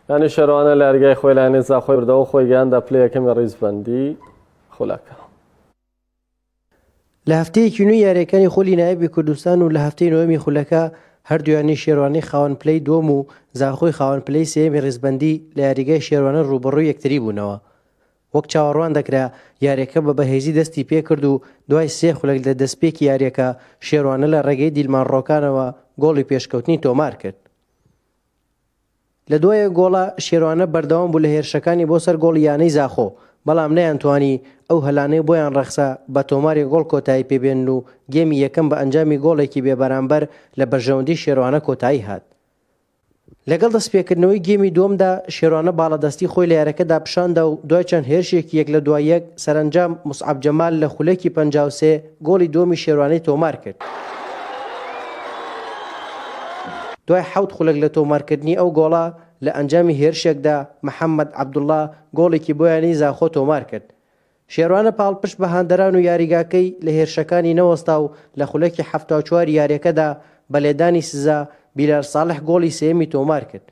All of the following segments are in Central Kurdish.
یانی شەرانە لە ئەرگای خۆی لانێ زاخۆی بردەوە خۆی گەیاندا پلە یەکەمی ڕیزبەندی خولەکە. لە هەفتەیەکی نوێی یارییەکانی خولی نایابی کوردستان و لە هەفتەی نۆیەمی خولەکە، هەردوو یانەی شێروانی خاوەن پلەی دووەم و زاخۆی خاوەن پلەی سێیەمی ڕیزبەندی لە یاریگای شێروانە ڕووبەڕووی یەکتری بوونەوە. وەک چاوەڕوان دەکرا، یارییەکە بە بەهێزی دەستی پێکرد و دوای سێ خولەک لە دەستپێکی یارییەکە، شێروانە لە ڕێگەی دیلمان ڕۆکانەوە گۆڵی پێشکەوتنی تۆمارکرد. لە دوای گۆڵە شێروانە بەردەوام بوو لە هێرشەکانی بۆ سەر گۆڵی یانەی زاخۆ، بەڵام نەیانتوانی ئەو هەلانەی بۆیان ڕەخسا بە تۆماری گۆڵ کۆتایی پێ بێنن و گێمی یەکەم بە ئەنجامی گۆڵێکی بێ بەرامبەر لە بەرژەوەندی شێروانە کۆتایی هات. لەگەڵ دەستپێکردنەوەی گێمی دووەمدا شێروانە باڵادەستی خۆی لە یارەکەدا پیشاندا و دوای چەند هێرشێکی یەک لە دوای یەک سەرەنجام موسعەب جەمال لە خولەکی پەنجا و سێ گۆڵی دووەمی شێروانی تۆمار کرد. دوای حەوت خولەک لە تۆمارکردنی ئەو گۆڵە، لە ئەنجامی هێرشێکدا محەممەد عەبدوڵڵا گۆڵێکی بۆ یانەی زاخۆ تۆمار کرد. شێروانە پاڵپشت بە هاندەران و یاریگاکەی لە هێرشەکانی نەوەستا و لە خولەکی حەفتا و چواری یارییەکەدا بە لێدانی سزا، بیلال ساڵح گۆڵی سێیەمی تۆمار کرد.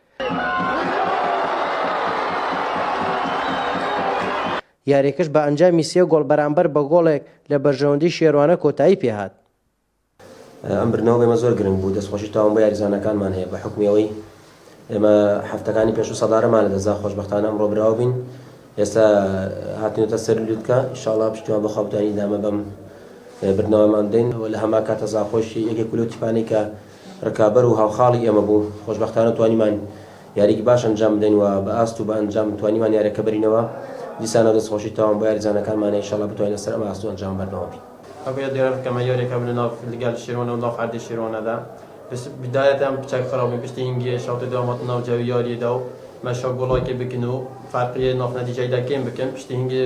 یارییەکەش بە ئەنجامی سێ گۆڵ بەرامبەر بە گۆڵێک لە بەرژەوەندیی شێروانە کۆتایی پێ هات. ئەم بردنەوە بۆ ئێمە زۆر گرنگ بوو، دەستخۆشی تەواوم بۆ یاریزانەکانمان هەیە، بە حوکمی ئەوەی ئێمە هەفتەکانی پێشوو سەدارەمان لەدەست دا، خۆشبەختانە ئەمڕۆ براو بووین، ئێستا هاتینەتە سەر لووتکە، ان شاء اللە پشتیوان بەخوا بتوانین ئیدامە بەم بردنەوەمان بدەین و لە هەمان کاتە زاخۆشی یەکێک بوو لەو تیپانەی کە رکابەر و هاوخاڵی ئێمە بوو، خۆشبەختانە توانیمان یارییەکی باش ئەنجام بدەین و بە ئاست و بە ئەنجام توانیمان یارییەکە بەرینەوە، دیسانەوە دەستخۆشی تەواوم بۆ یاریزانەکانمان ان شاءاللە بتوانین لەسەر ئەم ئاست و ئەنجامە بەردەوام بین. ئەگەر یاد گەرەنت کەمە یاریە کە بنە ناو فلگە لە شێرۆنە و ناو حەردی شێرۆنە دا پس بدایە تام پچاک خراپ بین پشتی هینگیە شاوتە دوا ماتە ناو جاوی یاریە دا و مە شا گۆڵاکی بکن و فارقیە ناف نەتیجای دا کێم بکن پشتی هینگیە